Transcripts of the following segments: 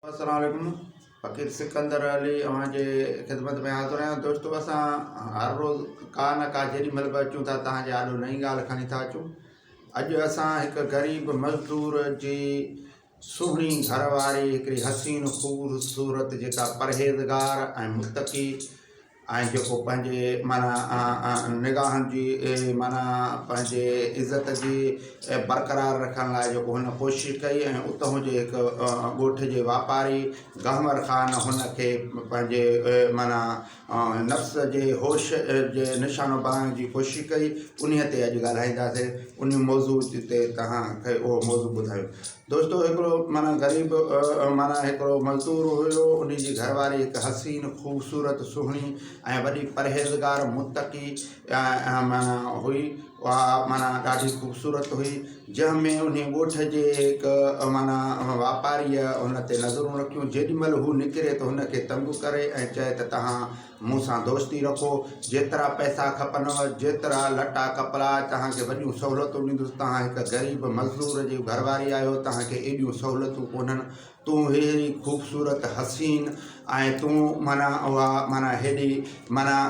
السلام عليڪم فقير سڪندر علي اوهان جي خدمت ۾ حاضر آهيان دوستو اسان هر روز ڪا نه ڪا جيڏي مهل به اچون ٿا توهان جي آڏو نئين ڳالهه کڻي ٿا اچون اڄ اسان هڪ غريب مزدور جي سهڻي گهر واري هڪڙي حسين خوبصورت جيڪا پرهيزگار ۽ متقي ۽ جيڪو پنهنجي معنيٰ نگاهن جي معنيٰ پنهنجي عزت جي برقرار رکڻ لاء جيڪو هن ڪوشش ڪئي ۽ اتهون جي هڪ ڳوٺ جي واپاري گهمر خان هن کي پنهنجي معنيٰ نفس جي هوش جي نشانو بڻائڻ جي ڪوشش ڪئي انهيء تي اڄ ڳالهائينداسين انهي موضوع تي توهان کي اهو موضوع ٻڌايو دوستو هڪڙو معنيٰ غريب معنيٰ هڪڙو مزدور هيو ان جي گهر واري هڪ حسين خوبصورت سهڻي ۽ وڏي پرهيزگار متقي معنيٰ هئي اها معنيٰ ڏاڍي خوبصورت هئي جنهن ۾ ان ڳوٺ جي هڪ معنيٰ واپاري ان تي نظرون رکيون جيڏي مهل هو نڪري ته هن کي تنگ ڪري ۽ چئي ته تهان مون سان دوستي رکو، جيترا پئسا کپنو، جيترا لٽا ڪپڙا، توهان کي وڏيون سهولتون ڏيندس، توهان هڪ غريب مزدور جي گهر واري آهيو، توهان کي ايڏيون سهولتون ڪونهن، تون ههڙي خوبصورت، حسين ۽ تون معنيٰ اها معنيٰ هيڏي معنيٰ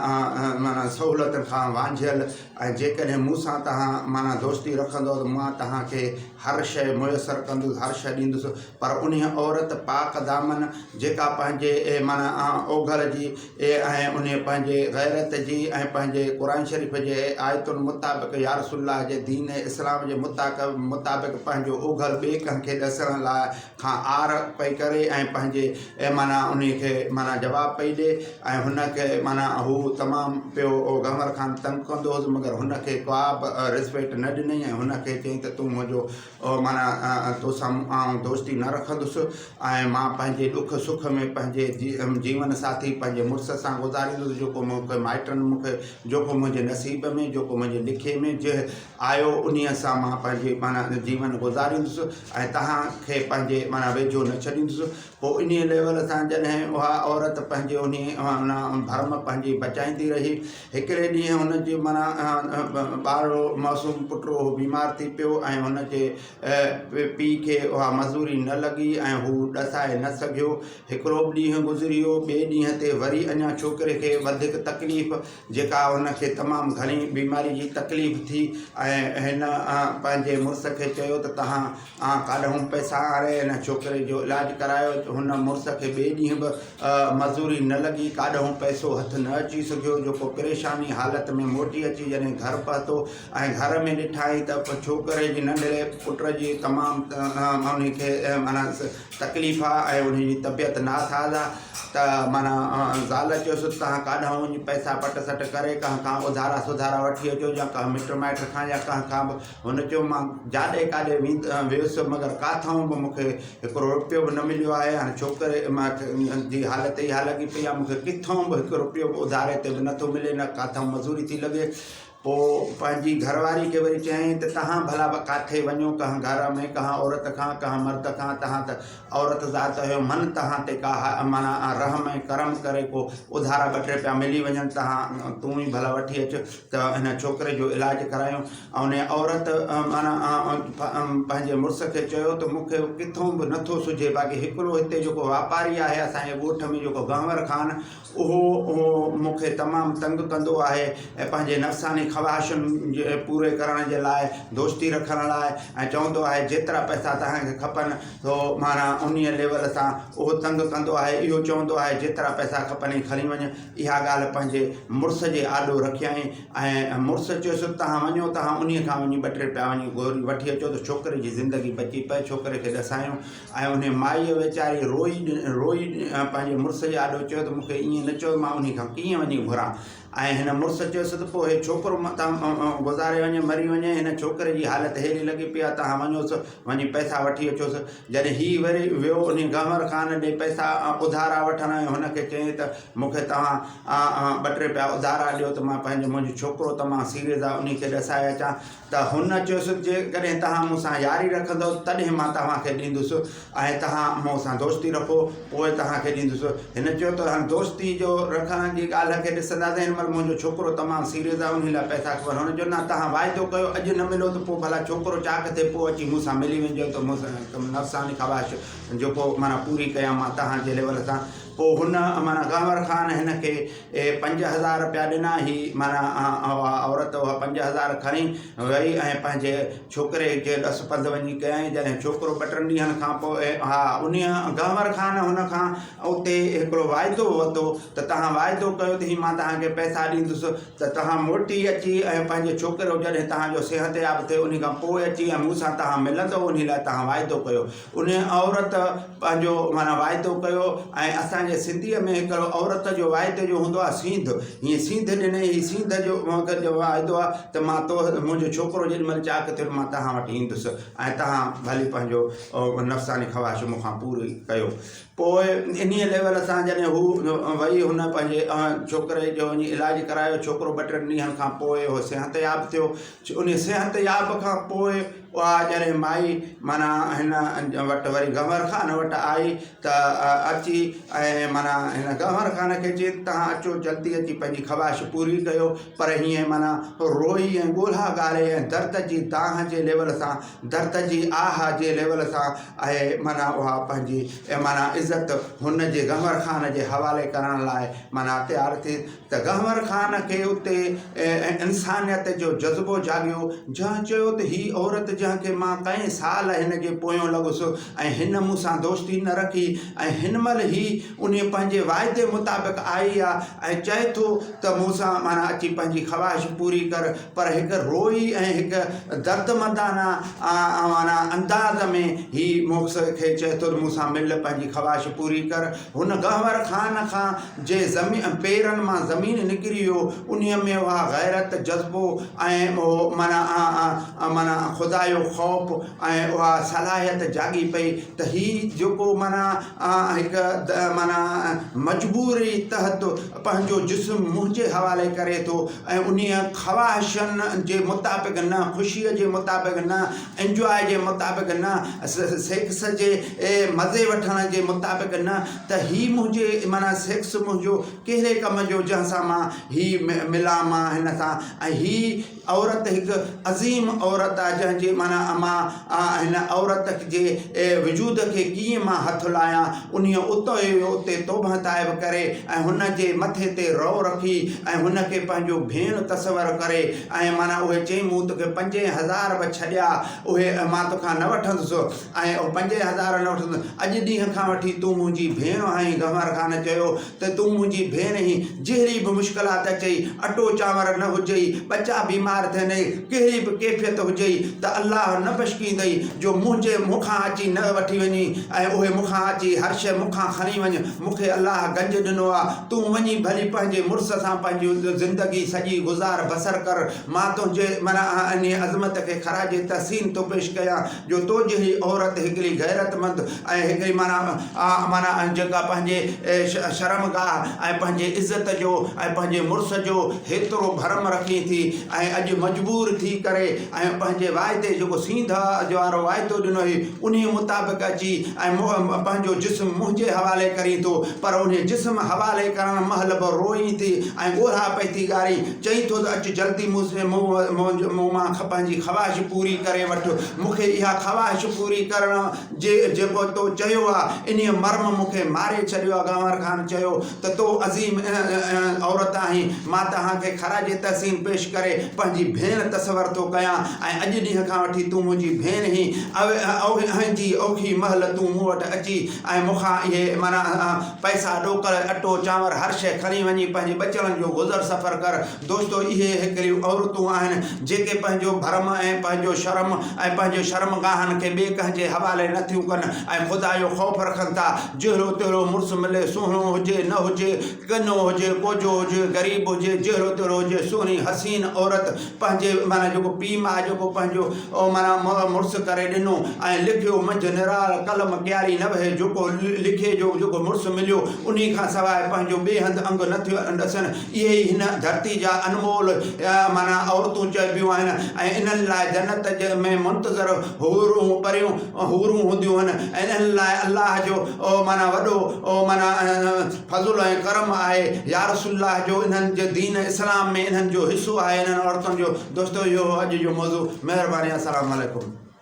معنيٰ سهولتن کان وانجهيل ۽ جيڪڏهن مون سان توهان معنيٰ دوستي رکندؤ ته مان توهان کي هر شيء ميسر ڪندس، هر شيء ڏيندس، پر انهيء عورت پاڪ دامن جيڪا پنهنجي معنيٰ اوگهڙ جي ۽ انهيء پنهنجي غيرت جي ۽ پنهنجي قرآن شريف جي آيتن مطابق يا رسول الله جي دين اسلام جي مطابق پنهنجو اوگهڙ ٻئي ڪنهن کي ڏسڻ لاء کان آر پئي ڪري ۽ پنهنجي معنيٰ انهي کي معنيٰ جواب پئي ڏي ۽ هن کي معنيٰ هو تمام پيو گهمر خان تنگ ڪندو هوس مگر هن کي ڪابه رسپيڪٽ نه ڏنئي ۽ هن کي چئي ته تون منهنجو معنيٰ تو سان آئون دوستي نه رکندس ۽ مان پنهنجي ڏک سک ۾ پنهنجي جيون ساٿي پنهنجي مڙس سان گذاريندس جيڪو مون کي مائٽن مون کي جيڪو منهنجي نصيب ۾، جيڪو منهنجي لکي ۾، جنهن آهيو انهيء سان مان پنهنجي معنيٰ جيون گذاريندس ۽ توهان کي پنهنجي معنيٰ ويجهو نه ڇڏيندس پوء انهيء ليول تان جڏهن اها عورت پنهنجي انهيء معنيٰ ڀرم پنهنجي بچائيندي رهي هڪڙي ڏينهن هن جي معنيٰ ٻارڙو معصوم پٽڙو هو بيمار ٿي پيو ۽ هن جي پيء کي اها مزوري نه لڳي ۽ هو ڏسائي نه سگهيو هڪڙو ڏينهن گذريو ٻئي ڏينهن تي وري اڃا ڇوڪري کي وڌيڪ تڪليف جيڪا هن کي تمام گهڻي بيماري جي تڪليف ٿي ۽ هن پنهنجي مڙس کي چيو ته تهان ڪاڏهون پئسا آڻي هن ڇوڪري جو علاج ڪرايو هن مڙس کي ٻئي ڏينهن به مزوري نه لڳي ڪاڏهون پئسو هٿ نه اچي سگهيو جيڪو پريشاني حالت ۾ موٽي اچي جڏهن گهر پهتو ۽ گهر ۾ ڏٺائين ته ڇوڪري جي ننڍڙي پٽ جي تمام انهي کي معنيٰ تڪليف آ ۽ انهن جي طبيعت ناساز آ ته معنيٰ زال چيس ته تهان ڪاڏهن وڃي پئسا پٽ سٽ ڪري ڪنهن کان اڌارا سڌارا وٺي اچو يا ڪنهن مٽ مائٽ کان يا ڪنهن کان به هن چيو مان جاڏي ڪاڏي ويس مگر ڪاٿئون به مونکي هڪڙو روپيو به نه مليو آهي هاڻي ڇوڪري جي حالت اها لڳي پئي آ مونکي ڪٿئون به هڪ روپيو به اڌاري تي به نٿو ملي نه ڪاٿئون مزوري ٿي لڳي پوء پنهنجي گهر واري کي وري چيائين ته تهان ڀلا ڪاٿي وڃو ڪنهن گهر ۾ ڪنهن عورت کان ڪنهن مرد کان تهان ته عورت ذات آهيو من تهان تي ڪا معنيٰ رحم ۽ ڪرم ڪري ڪو اڌارا ٻه ٽي پيا ملي وڃن تهان تون ئي ڀلا وٺي اچ ته هن ڇوڪري جو علاج ڪرايون ان عورت معنيٰ پنهنجي مڙس کي چيو ته مون کي ڪٿون به نٿو سجهي باقي هڪڙو هتي جيڪو واپاري آهي اسان جي ڳوٺ ۾ جيڪو گهنور خان اهو مون کي تمام تنگ ڪندو آهي ۽ پنهنجي نفساني خواهشن پوري ڪرڻ جي لاء دوستي رکڻ لاء ۽ چوندو آهي جيترا پئسا توهان کي کپن سو معنيٰ انهي ليول سان اهو تنگ ڪندو آهي اهو چوندو آهي جيترا پئسا کپنئي کڻي وڃ اها ڳالهه پنهنجي مڙس جي آڏو رکيائين ۽ مڙس چيس توهان وڃو توهان انهي کان وڃي ٻه ٽي پيا وڃي گوري وٺي اچو ته ڇوڪري جي زندگي بچي پئي ڇوڪري کي ڏسايون ۽ انهيء مائيء ويچاريء روئي روئي پنهنجي مڙس جي آڏو چيو ته مون کي ائين نه چئو، مان انهيء کان ڪيئن وڃي گهران؟ ۽ هن مڙس چيس ته پوء هي ڇوڪرو متان گذاري وڃي، مري وڃي، هن ڇوڪري جي حالت ههڙي لڳي پئي آهي، توهان وڃوس، وڃي پئسا وٺي اچوس. جڏهن هيء وري ويو انهيء گهنور خان ڏي پئسا اڌارا وٺڻ ۽ هن کي چيائين ته مون کي توهان ٻه ٽي پيا اڌارا ڏيو ته مان پنهنجو منهنجو ڇوڪرو تمام سيريز آهي، انهيء کي ڏسائي اچان. ته هن چيس، جيڪڏهن توهان مون سان ياري رکندؤ، تڏهن مان توهان کي ڏيندس ۽ توهان مون سان دوستي رکو، پوء توهان کي ڏيندس. هن چيو ته هل دوستي جو رکڻ جي ڳالهه کي ڏسنداسين، هن مهل منهنجو ڇوڪرو تمام سيريس آهي، انهي لاء پئسا کپن. هن چيو، نه، توهان واعدو ڪيو، اڄ نه مليو ته پوء ڀلا ڇوڪرو چاڪ ٿئي، پوء اچي مون سان ملي وڃجو ته مون سان نفساني خواهش جيڪو معنيٰ پوري ڪيان مان توهان جي ليول سان. پوء هن معنيٰ غنور خان هن کي اهي پنج هزار رپيا ڏنا. هي معنيٰ اها عورت اها پنج هزار کڻي ويئي ۽ پنهنجي ڇوڪري جي ڏس پنڌ وڃي ڪيائين. جڏهن ڇوڪرو ٻه ٽن ڏينهن کان پوء اها انهيء گهمر خان هن کان اتي هڪڙو واعدو ورتو ته توهان واعدو ڪيو ته هي مان توهان کي پئسا ڏيندس ته توهان موٽي اچي ۽ پنهنجو ڇوڪرو جڏهن توهان جو صحتياب ٿئي انهي کان پوء اچي ۽ مون سان توهان ملندؤ انهي لاء توهان واعدو ڪيو انهيء عورت پنهنجو معنيٰ واعدو ڪيو ۽ اسان جي سنڌيء ۾ هڪڙو عورت جو واعدي جو هوندو آهي سينڌ هيء سينڌ ڏني هي سينڌ جو مگر جو واعدو آهي ته مان تو منهنجو ڇوڪرو جيڏي مهل چاڪ ٿيو مان توهان وٽ ايندس ۽ توهان ڀلي پنهنجو نفساني خواهش مون کان پوري ڪيو پوء انهيء ليول سان جڏهن هو وئي هن پنهنجي ڇوڪري جو وڃي علاج ڪرايو ڇوڪرو ٻه ٽن ڏينهن کان پوء اهو صحتياب ٿيو انهيء صحتياب کان پوء اها جڏهن مائي، معنيٰ هن وٽ وري گنور خان وٽ آئي ته اچي ۽ معنيٰ هن گنور خان کي چيس ته توهان اچو جلدي اچي پنهنجي خواهش پوري ڪيو پر هيئن معنيٰ روئي ۽ ڳولها ڳاري ۽ درد جي دانهن جي ليول سان درد جي آه جي ليول سان اهي معنيٰ اها پنهنجي معنيٰ عزت هن جي گنور خان جي حوالي ڪرڻ لاء معنيٰ تيار ٿي ته گهنور خان کي اتي انسانيت جو جذبو جاڳيو، جنهن چيو ته هي عورت جنهن کي مان ڪئين سال هن جي پويون لڳس ۽ هن مون سان دوستي نه رکي ۽ هن مهل هي انهي پنهنجي واعدي مطابق آئي آهي ۽ چئي ٿو ته مون سان معنيٰ اچي پنهنجي خواهش پوري ڪر پر هڪ روئي ۽ هڪ دردمندانه معنيٰ انداز ۾ هي مونکس کي چئي ٿو ته مون سان مل پنهنجي خواهش پوري ڪر هن گهنور خان کان جي پيرن مان زمين نڪري ويو انهيء ۾ اها غيرت، جذبو ۽ اهو معنيٰ خدا جو خوف ۽ اها صلاحيت جاڳي پئي ته هي جيڪو معنيٰ هڪ معنيٰ مجبوري تحت پنهنجو جسم منهنجي حوالي ڪري ٿو ۽ انهيء خواهشن جي مطابق نه، خوشيء جي مطابق نه، انجواء جي مطابق نه، سيڪس جي مزي وٺڻ جي مطابق نه، ته هي منهنجي معنيٰ سيڪس منهنجو ڪهڙي ڪم جو جنهن سان مان هي ملان مان هن سان ۽ هي عورت هڪ عظيم عورت آهي جنهن جي معنيٰ مان هن عورت جي وجود کي ڪيئن مان هٿ لاهيان انهيء اتو ئي اتي توبهه تائب ڪري ۽ هن جي مٿي تي رئو رکي ۽ هن کي پنهنجو ڀيڻ تصور ڪري ۽ معنيٰ اهي چئي مون توکي پنجين هزار به ڇڏيا اهي مان توکان نه وٺندس ۽ او پنجين هزارن نه وٺندس. اڄ ڏينهن کان وٺي تون منهنجي ڀيڻ آهين گهمار خان چيو ته تون منهنجي ڀيڻ هين جهڙي به مشڪلات اچئي اٽو چانور نه هجئي ٻچا بيمار ٿيندئي ڪهڙي به ڪيفيت هجئي ته الله نه بشڪيندئي جو منهنجي مون کان اچي نه وٺي وڃين ۽ اهي مون کان اچي هر شيء مون کان کڻي وڃ مون کي الله گنج ڏنو آ تون وڃي ڀلي پنهنجي مڙس سان پنهنجي زندگي سڄي گذار بسر ڪر مان تنهنجي معنيٰ انهيء عظمت کي خراج تحسين ٿو پيش ڪيان جو تو جهڙي عورت هڪڙي غيرتمند ۽ هڪڙي معنيٰ معنيٰ جيڪا پنهنجي شرم گاهه ۽ پنهنجي عزت جو ۽ پنهنجي مڙس جو هيترو ڀرم رکين ٿي ۽ اڄ مجبور ٿي ڪري ۽ پنهنجي واعدي جيڪو سينڌ وارو واعدو ڏنو هي انهي مطابق اچي ۽ پنهنجو جسم منهنجي حوالي ڪرين ٿو پر انهي جسم حوالي ڪرڻ مهل به روئين ٿي ۽ ڳوڙها پئي ٿي ڳارين چئين ٿو ته اچ جلدي مون سين مون مان پنهنجي خواهش پوري ڪري وٺ. مون کي اها خواهش پوري ڪرڻ جي جيڪو تو چيو آ، انهيء مرم مون کي ماري ڇڏيو آ. گنور خان چيو ته تو عظيم عورت آهين. مان توهان کي خراج تحسين پيش ڪري پنهنجي ڀيڻ تصور ٿو ڪيان ۽ اڄ ڏينهن کان وٺي تون منهنجي ڀيڻ هين. اهنجي اوکي مهل تون مون وٽ اچي ۽ مون کان اهي معنيٰ پئسا، ڏوڪڙ، اٽو، چانور هر شيء کڻي وڃي پنهنجي ٻچڙن جو گذر سفر ڪر. دوستو اهي هڪڙيون عورتون آهن جيڪي پنهنجو ڀرم ۽ پنهنجو شرم ۽ پنهنجي شرمگاهن کي ٻئي ڪنهن جي حوالي نه ٿيون ڪن ۽ خدا جو خوف رکن ٿا. جهڙو تهڙو مڙس ملي، سهڻو هجي، نه هجي، ڪنو هجي، ڪوجهو هجي، غريب هجي، جهڙو تهڙو هجي، سهڻي حسين عورت، پنهنجي معنيٰ جيڪو پيء ماء جيڪو پنهنجو معنيٰ مڙس ڪري ڏنو ۽ لکيو منجهه نرال قلم ڪياري نوهي جيڪو لکي جو جيڪو مڙس مليو انهي کان سواء پنهنجو ٻئي هنڌ انگ نه ٿيو ڏسن اهي ئي هن ڌرتي جا انمول معنيٰ عورتون چئبيون آهن ۽ انهن لاء جنت ۾ منتظر حورون پريون حورون هونديون آهن ۽ انهن لاء الله جو معنيٰ وڏو معنيٰ فضل ۽ ڪرم آهي يارسول الله جو انهن جي دين اسلام ۾ انهن جو حصو آهي انهن عورتن جو دوستو اهو هو اڄ جو موضوع مهرباني السلام عليڪم.